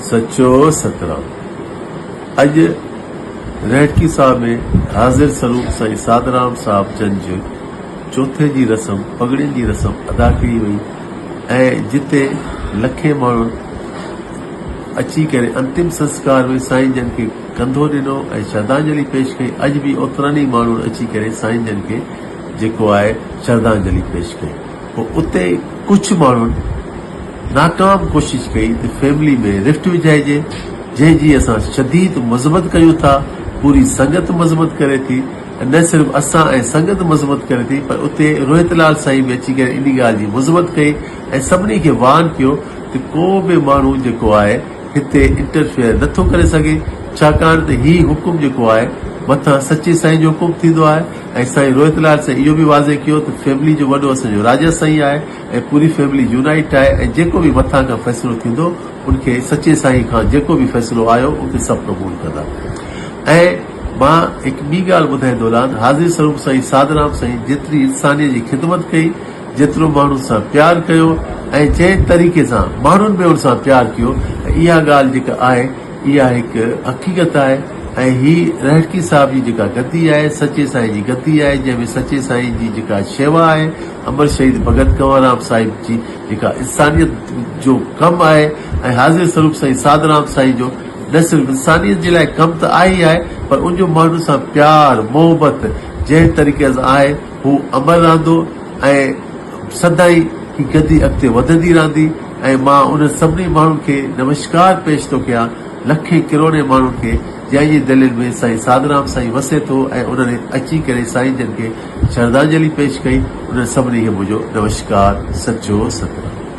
سچو سترال اڄ رهٽڪي ساهه ۾ حاضر سروپ سائين سادرام صاحب جن جي چوٿين جي رسم پڳڙين جي رسم ادا ڪئي وئي ۽ جتي لکين ماڻهن اچي ڪري انتم سنسڪار ۾ سائين جن کي ڪنڌو ڏنو ۽ شردانجلي پيش ڪئي اڄ به اوترن ئي ماڻهن اچي ڪري سائين جن کي جيڪو آهي شردانجلي پيش ڪئي پوء اتي ڪجهه ماڻهن ناڪام ڪوشش ڪئي ته فيملي ۾ رفٽ وجهائجي، جنهن جي اسان شديد مذمت ڪيون ٿا، پوري سنگت مذمت ڪري ٿي ۽ نه صرف اسان ۽ سنگت مذمت ڪري ٿي پر اتي روهت لال سائين به اچي ڪري ان ڳالهه جي مذمت ڪئي ۽ سڀني کي وارن ڪيو ته ڪو به ماڻهو جيڪو آهي هتي انٽرفيئر نه ٿو ڪري سگهي ڇاڪاڻ ته هي حڪم جيڪو آهي مٿان سچي سائين جو حڪم ٿيندو آهي. ايس آء اي روهت لال سائين اهو به واضح ڪيو ته فيملي جو وڏو اسان جو راجا سائين آهي ۽ پوري فيملي يونائٽ آهي ۽ جيڪو به مٿان کان فيصلو ٿيندو ان کي سچي سائين کان جيڪو به فيصلو آيو ان کي سڀ قبول ڪندا ۽ مان هڪ ٻي ڳالهه ٻڌائي دولان حاضري سروپ سائين سادرام سائين جيتري انسانيت جي خدمت ڪئي جيترو ماڻهن سان پيار ڪيو ۽ جنهن طريقي سان ماڻهن به ان سان پيار ڪيو ته اها ڳالهه جيڪا آهي اها هڪ حقيقت آهي ۽ هي رهڙڪي صاحب جي جيڪا گدي آهي، سچي سائين جي گدي آهي، جنهن ۾ سچي سائين جي جيڪا شيوا آهي، امر شهيد ڀڳت ڪنوررام صاحب جي جيڪا انسانيت جو ڪم آهي ۽ حاضر سروپ سائين سادرام سائين جو نه صرف انسانيت جي لاء ڪم ته آهي ئي آهي پر ان جو ماڻهن سان پيار محبت جنهن طريقي سان آهي، هو امر رهندو ۽ سدائين هي گدي اڳتي وڌندي رهندي ۽ مان انهن سڀني ماڻهن کي نمشڪار پيش ٿو ڪيان، لکين ڪروڙين ماڻهن کي، جنهن جي دلين ۾ سائين ساڌرام سائين وسي ٿو ۽ انهن اچي ڪري سائين جن کي شرڌانجلي پيش ڪئي، انهن سڀني کي منهنجو نمشڪار، سچو ستنام.